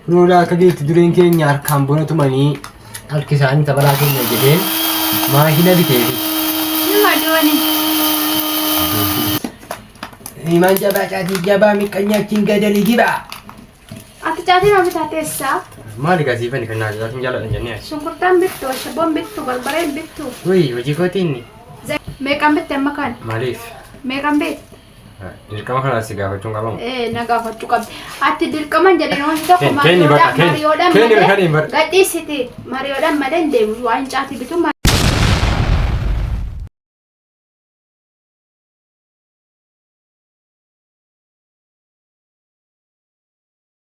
Kunoo akka geetti dureen keenya harkaan bona tumanii harki isaanii tapharaa keenya jedheen maashina biteefi. Nama dooni. Imaan jabaa caatii jabaa miqqanyaa achiin gadali jibaa. Ati caatii maaf taatee isaa? Maali gasiifani kan naajaa sun jaaladhan jennee. Shunkurtaan bittu, ashabboon bittu, barbareen bittu. Wayii hojii kootiin Meeqan bitte amma kana? maaliif? Meeqan beekta? Dirqama kana si gaafachuun qabamu. Eh, na gaafachuu qabdi. Ati dirqaman jedhee wanti tokko Ken- Kenny bakka, mariyoodhaan Ken- mariyoodhaan Kenny malee kan hin bar- gadhiisiti. Mariyoodhaan malee hin deemu. Waan caatii bitu ma-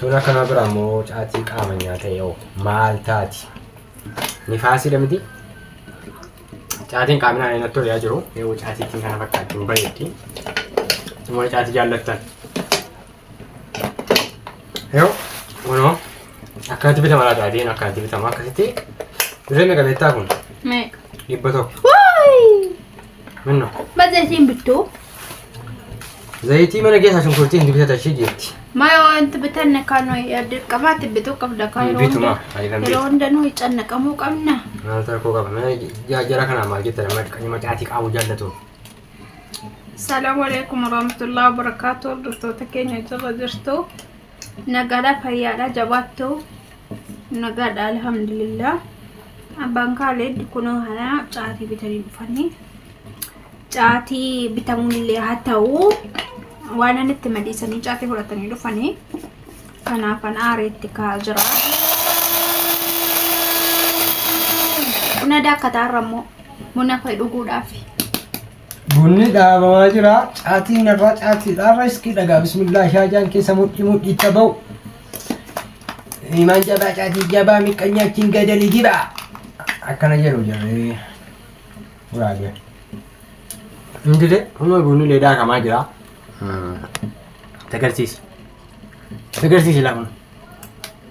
Tuun akkanaa bira ammoo caatii qaama nyaata yoo maal taati? Nifaasiidha miti? Caatiin qaaminaa inni natti tolaa jiru yoo caatiitiin kana fakkaatti hin bareeddi. Immoo caatii jaallattan. Yoo kunoo akkanatti bitama laa caatiin akkanatti bitama akkasitti dirree meeqa beektaa kun? Meeqa? Dhibba tokko. Waayii! Minno. Ma zayitiin bittuu? Zayitii mana keessaa shunkurtii hin bitata ishee jeetti. Maya wanti bitanne kan dirqamaatti bituu qabda kan yeroo Bitu hunda- maa ani kan yeroo bitu. hunda nuyi cannaqamuu qabna. Maal rakkoo qaba mana jaajjara kanaa maal jetta nama qayyima caatii qabu jaallatu. Salaamu alaikum warahmatullahi wabarakatuh. Hordoftoota keenya jala jirtu. Nagaadhaa fayyaadhaa jabaattu nagaadhaa alhamdulillah abbaan kaaleed kunoo hanaa caatii bitanii dhufanii caatii bitamuullee haa ta'u waan ani itti madiisanii caatii fudhatanii dhufanii kanaaf an aareetti kaa jira buna daakkataa irra immoo buna fa'i dhuguudhaaf Bunni dhaabamaa jira. Caatiin irraa caatiidha. Irra iskii dhagaa. Bismillah shaajaan keessa mudhii mudhiitti ba'u. Imaan jabaa caatii jabaa miqqanyaa achiin gadali jiba. Akkana jedhu jarri. Guraabe. Indile amma bunni illee daakamaa jira. Tagarsiisi. Tagarsiisi laa kun.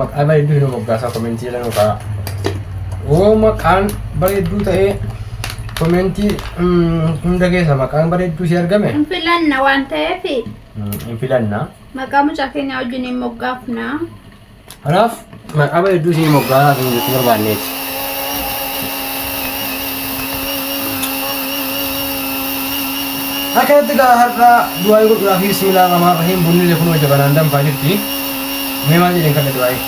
Maqaa bareedduu hin moggaasaa komentii jala nu ka'a. Yoo maqaan bareedduu ta'ee komentii hunda keessa maqaan bareedduu si argame Hin filanna waan ta'eef hin filanna. maqaa mucaa keenya wajjin hin moggaafna. Kanaaf maqaa bareedduu si moggaasaa kan jechuu barbaanneeti. Akkanatti gaa har'aa du'aa godhuudhaaf bismillah rahmaan rahiim bunni illee kunoo jabanaan danfaa jirti. Mee maal jedheen kadhadhu waa'ee?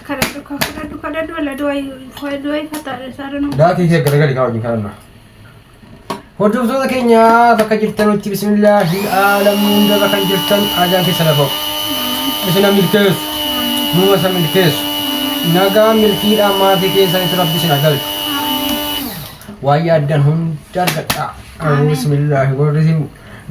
Kadhadhu kaa kadhadhu kadhadhu ala du'aayi waa'ee du'aayi fataadha isaa dhanuu. Daatii fi garagalii kaa wajjin kadhanna. Hordoftoota keenya bakka jirtanutti bismillaahi aalamni hunda bakka jirtan ajaan keessa lafa isina milkeessu nuuma isa milkeessu nagaa milkiidhaan maatii keessanitti rabbi isin agalchu waa'ee addan hunda argadhaa. Bismillaahi warri isin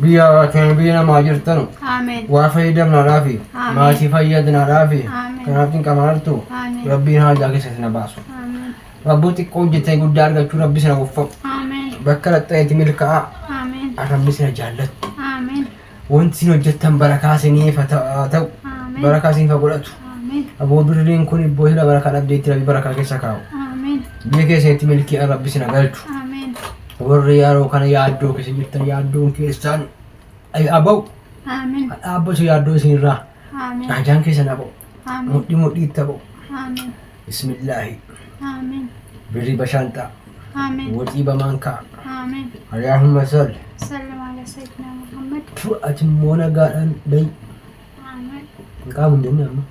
Biyya keenya biyya namaa jirtanu Amen. waa fayyadamnaadhaaf Amiin. maatii fayyadnaadhaaf Amiin. kanaaf cinqama artu Amiin. rabbiin haajaa keessa isin baasu Amen. rabboo xiqqoo hojjetanii guddaa argachuu rabbi isin waffaqu Amen. bakka dhaxxanitti milkaa'aa Amen. rabbi isin jaallattu Amen. wanti isin hojjettan barakaa isiniif haa ta- haa ta'u Amen. barakaa isiniif haa godhatu Amen. aboo birriin kun ibboo hila barakaa dhabdeetti rabbi barakaa keessa kaa'u Amen. biyya keessanitti milkiidhaan rabbi isin haa galchu Amen. Warri yeroo kana yaaddoo keessa jirtan yaaddoon keessaan aba'u. Amen. Dhaabbatu yaaddoo isinirraa. Amen. Dhaajaan keessan aba'u. Amen. Mudhii mudhiitti aba'u. Amen. Bismillaahi. Amen. Birrii bashaanxaa. Amen. Woxii bamaankaa. Amen. Ariyaahumma salli. Sallu ala sayyidina Muhammad. Ati immoo nagaadhaan dayi. Hin qaamu hin jenne amma.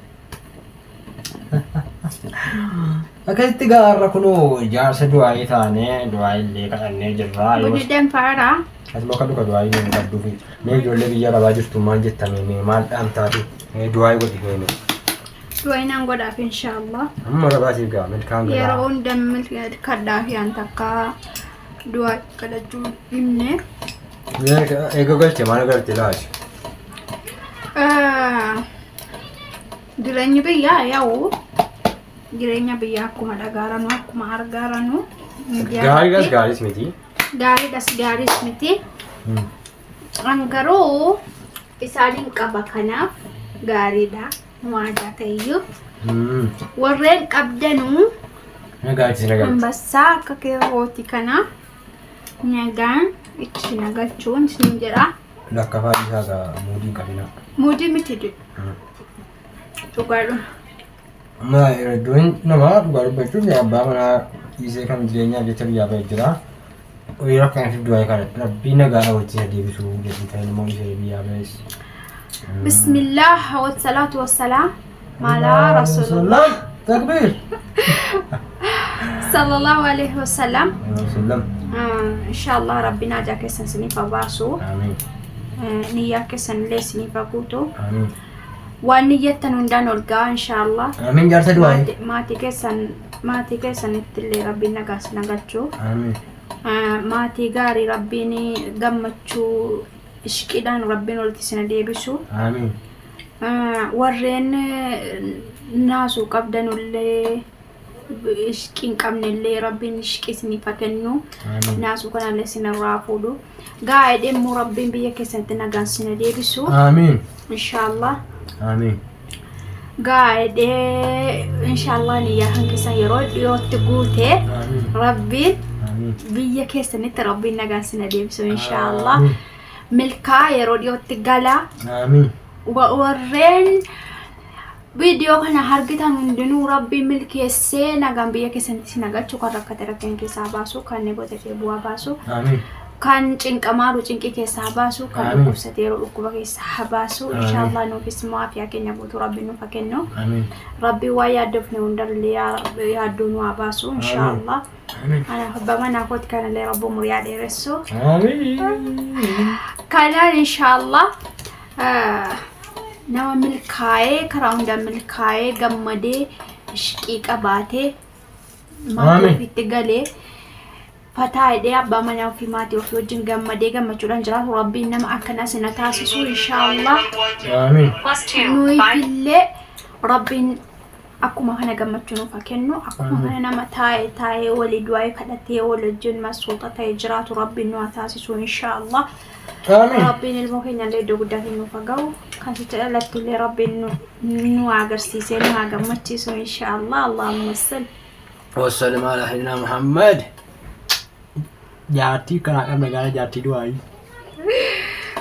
Akkasitti gaa har'a kunoo jaarsa du'aayii taane du'aayii illee kadhannee jirra. Yoo Budideen faaraa. Asuma kadhu ka du'aayii nuun qabduu fi mee ijoollee biyya arabaa jirtu maal jettamee mee maal dhaamtaa fi mee du'aayii godhi mee mee. Du'aayinaan godhaaf inshaallah. Amma arabaa siif gaa milkaan Yeroo galaa. hunda milkaadhaa fi an takka du'aa kadhachuu himne. Eega galche maal garte laati? Jireenyi biyyaa yaa'u jireenya biyyaa akkuma dhagaaranu akkuma argaaranu. Gaariidhas gaariis miti. Gaariidhas gaariis miti. An garuu isaaniin qaba kanaaf gaariidha waadaa ta'eyyuu. Warreen qabdanuu Nagaatti nagaatti. ambassaa akka keerooti kanaa. Nagaan itti na galchuun isin jedha. Lakkafaa dhiisaa gaa muudiin qabinaa. Muudii miti jedhu. Dhugaadhuma. Amma hedduun namaa dhugaa dubbachuuf yaa abbaa manaa dhiisee kan jireenyaaf jecha biyyaa ba'e jira. Horii rakkana fidduu waa'ee kana rabbii nagaa hawwachiisa deebisuu jedhu ta'in immoo dhiisee biyyaa ba'es. Bismillah, wasalaatu wasalaam. maalaa rasuulullah takbiir sallallahu alaihi wasallam rasuulullah inshallah rabbiin hajaa keessan isiniif haa baasu amiin niyyaa keessan illee isiniif haa guutu amiin waan niyyattan hundaan ol ga'a inshallah amiin jaarsa du'aayi Maati- maatii keessan maatii keessanitti illee rabbiin nagaa isin haa galchu amiin Ah, maatii gaarii rabbiin gammachuu ishqiidhaan rabbiin walitti isin haa deebisu amiin warreen naasuu qabdanullee ishqii hin qabnellee rabbiin ishqii isiniif haa kennu naasuu kanallee isinirraa fuudhu gaa'ee dhimmu rabbiin biyya keessanitti nagaan sina deebisu Aamiin. inshaallah Aamiin. gaa'ee inshaallah niyyaa kan keessan yeroo dhiyootti guute Aamiin. rabbiin Aamiin. biyya keessanitti rabbiin nagaan sina deebisu inshaallah Aamiin. milkaa yeroo dhiyootti gala Aamiin. Wa- warreen viidiyoo kana hargitan hundinuu rabbiin milkeessee nagaan biyya keessanitti isin galchu kan rakkate rakkina keessaa baasu kan botatee bu'aa baasu Aamiin. kan cinqamaaru cinqii keessaa baasu kan Amiin. dhukkubsateeru dhukkuba keessaa baasu Amiin. inshaallah nuufis immoo afiyaa keenya guutuu rabbiin nuuf haa kennu Aamiin. rabbiin waa yaaddofne hundarlee yaa- yaaddoo nu haa baasu inshaallah Kanaaf abbaa manaa kooti kanallee rabbi umurii haa dheeressu. Kanaan inshaallah nama milkaa'ee karaa hundaan milkaa'ee gammadee ishqii qabaatee maatii Amiin. ofiitti galee fataa hidhee abbaa manaa ofii maatii ofii wajjin gammadee gammachuudhaan jiraatu rabbiin nama akkanaa sina taasisuu inshaallah. Aamiin. Plus two. Nuyi Five. illee rabbiin akkuma kana gammachuu nuuf haa kennu akkuma kana nama taa'e taa'ee walii du'aa kadhatee wal wajjin masuuxa ta'e jiraatu rabbiin nu haa taasisu inshaa allah Aamiin. rabbiin ilmoo keenya illee iddoo guddaa keenya nuuf haa ga'u kan sitti dhalattu illee rabbiin nu- nu haa agarsiisee nu haa gammachiisu inshaa allah allahumma salli Wassalam ala sayyidina Muhammad. Jaartii kanaa qabna gaara jaartii du'aayi.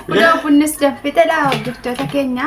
Kunoo bunnis danfitedha hordoftoota keenya.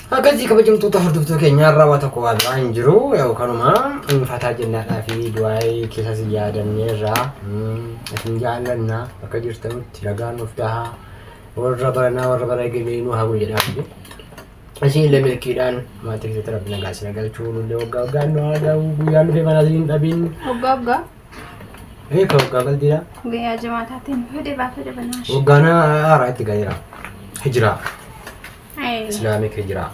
Akkasii kabajamtoota hordoftoota keenya irraa waa tokko waa biraa hin jiru yoo kanuma fataa jennaadhaa fi du'aayii keessas hin yaadannee irraa isin jaallanna akka jirtanutti ragaa nuuf tahaa warra baranaa warra bara egelee nu haa jedhaa fi isin illee milkiidhaan maatii keessatti rabbi nagaa isin galchuu nullee waggaa waggaan nu haa ga'u guyyaan dhufee manaa isin hin dhabin Hoggaa hoggaa ee ka waggaa galdiidha guyyaa jimaataatiin fedhe baafadha banaa. waggaana haaraa itti galeera hijiraa Islaamik hijiraa.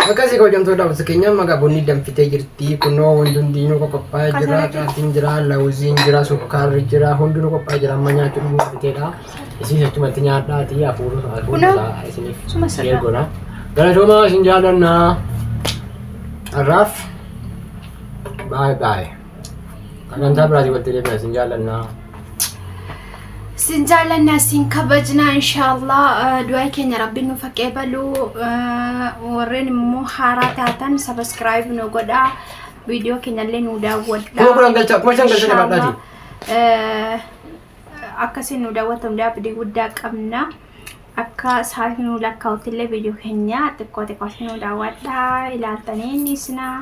Akkasii hojjamtoota hawwasa keenya magaa bunni danfitee jirti kunoo wanti hundinuu qophaa'ee jira caatiin jira lawuziin jira sukkaarri jira hundinuu qophaa'ee jira amma nyaachuu dhuguu fiteedha isiis achumatti nyaadhaati hafuurri hafuurri isiniif sheer godha galatoomaa isin jaalannaa har'aaf baay'ee baay'ee. Sagantaa biraatii walitti deebina isin jaallannaa. Sin jaallanna sin kabajna inshaallah du'aa keenya rabbi nu fakkee balu warreen immoo haaraa taatan sabiskiraayib nu godha viidiyoo keenyallee nu daawwadha. Kuma kudhan galchaa kuma shan galchaa jabaadhaati. Akkasiin nu daawwatan abdii guddaa qabna. Akka sa'aatii nuu lakkaa'utti illee viidiyoo keenya xiqqoo xiqqootti nuu daawwadhaa ilaaltanii ni isinaa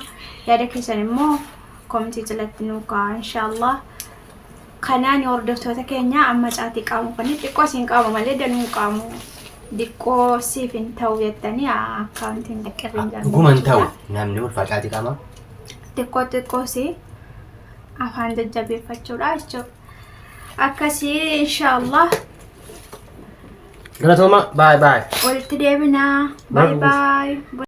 yaada keessan immoo koomentii jalatti nuu kaa'aa inshaallah. Kanaan hordoftoota keenya amma caatii qaamu kan xiqqoo isin qaamu malee danuu qaamu diqqoo siif hin ta'u jettanii akkaawuntiin xiqqirri hin Dhuguma hin ta'u jiraatu. namni ulfaa caatii qaamaa. Xiqqoo xiqqoo si afaan jajjabeeffachuudha jechuudha. Akkasii inshaallah Galatooma baay baay. Walitti deebinaa. Baay Baruuf. baay.